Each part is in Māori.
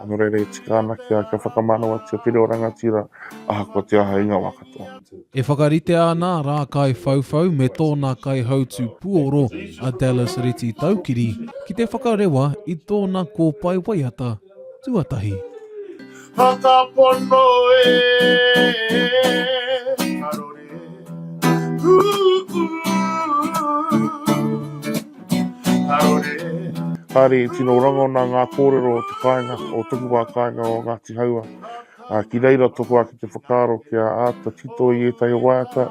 Nō reira e tika ana kia, kia whakamanawatia te reo rangatira ahakoa te aha i ngā wā katoa. E whakaritea ana a Rākaiwhauwhau me tōna kaihautū puoro a Dallas Reti Taukiri ki te whakarewa i tōna kōpae waiata tuatahi. Whakapono e karore, ū-ū. Arore. Kāre i tino rangona ngā kōrero o te kāinga, o toku wā kāinga o Ngāti Haua, ā, ki reira tōku ake te whakaaro kia āta tito i ētahi waiata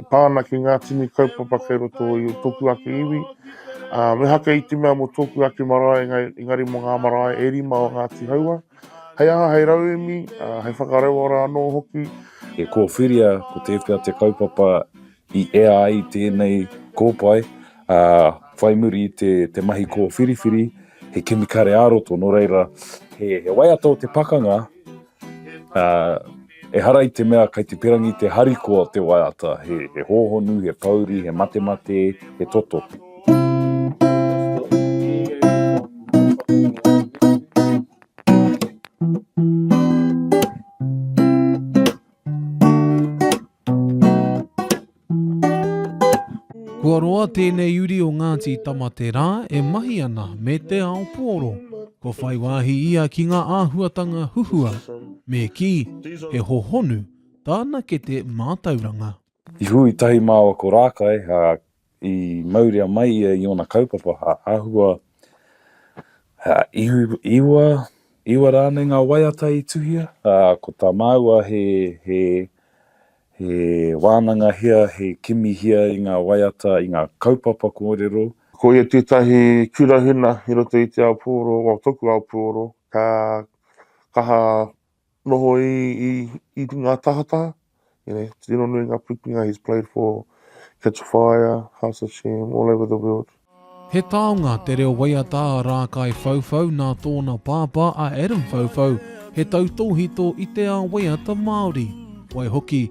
e pā ana ki ngā tini kaupapa kei roto i tōku ake iwi, ā, me haka i te mea mō tōku ake marae engari mō ngā marae e rima o Ngāti Haua, hei aha, hei rauemi, ā, hei whakarauora anō hoki. E kōwhiria ko tēwhea te kaupapa i ea ai tēnei kōpae, ā, whai muri i te, te mahi kōwhiriwhiri, he kemikare ā-roto, nō reira, he, he waiata o te pakanga, ā, ehara i te mea kai te perangi te harikoa o te waiata, he, he hōhonu, he pouri, he matemate, he toto. Kua roa tēnei uri o Ngāti Tamaterā e mahi ana me te ao pōro. Kua whai wāhi ia ki ngā āhuatanga huhua, me kī, he hohonu tāna kete mātauranga. I hui tahi māua ko Rākai, ā, i mauria mai ia i ōna kaupapa, ā, āhua, ā, iwi, iwa, iwa rānei ngā waiata i tuhia, ā, ko tā māua he, he, he wānangahia, he kimihia i ngā waiata, i ngā kaupapa kōrero. Ko ia tētahi kura huna i roto i te ao pūoro, o toku ao pūoro, ka kaha noho i, i, i ngā tahataha. You know, tino nui ngā pikinga he's played for Catch a Fire, House of Shame, all over the world. He taonga te reo waiata a Rākai Whauwhau nā tōna pāpā a Adam Whauwhau, he tautōhito i te ao waiata Māori. Waihoki,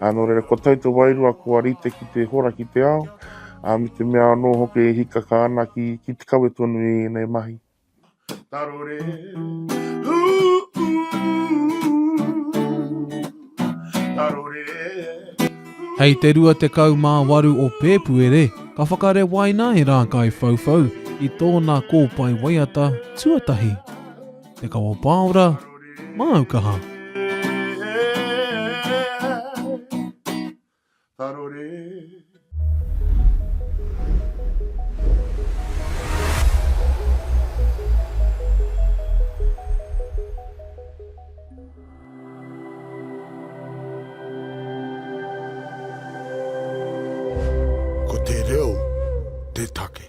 Ā, nō reira, kua tau te wairua, kua rite ki te hora ki te ao, ā, me te mea anō hoki e hikaka ana ki, ki te kawe tonu i ēnei mahi. Tarore, ū, ū, tarore, ū. Hei te 28 o Pēpuere, ka whakarewaina e Rākaiwhauwhau i tōna kōpae waiata tuatahi. Te Kawa Pāora, Māu Kaha. Ko te reo te take.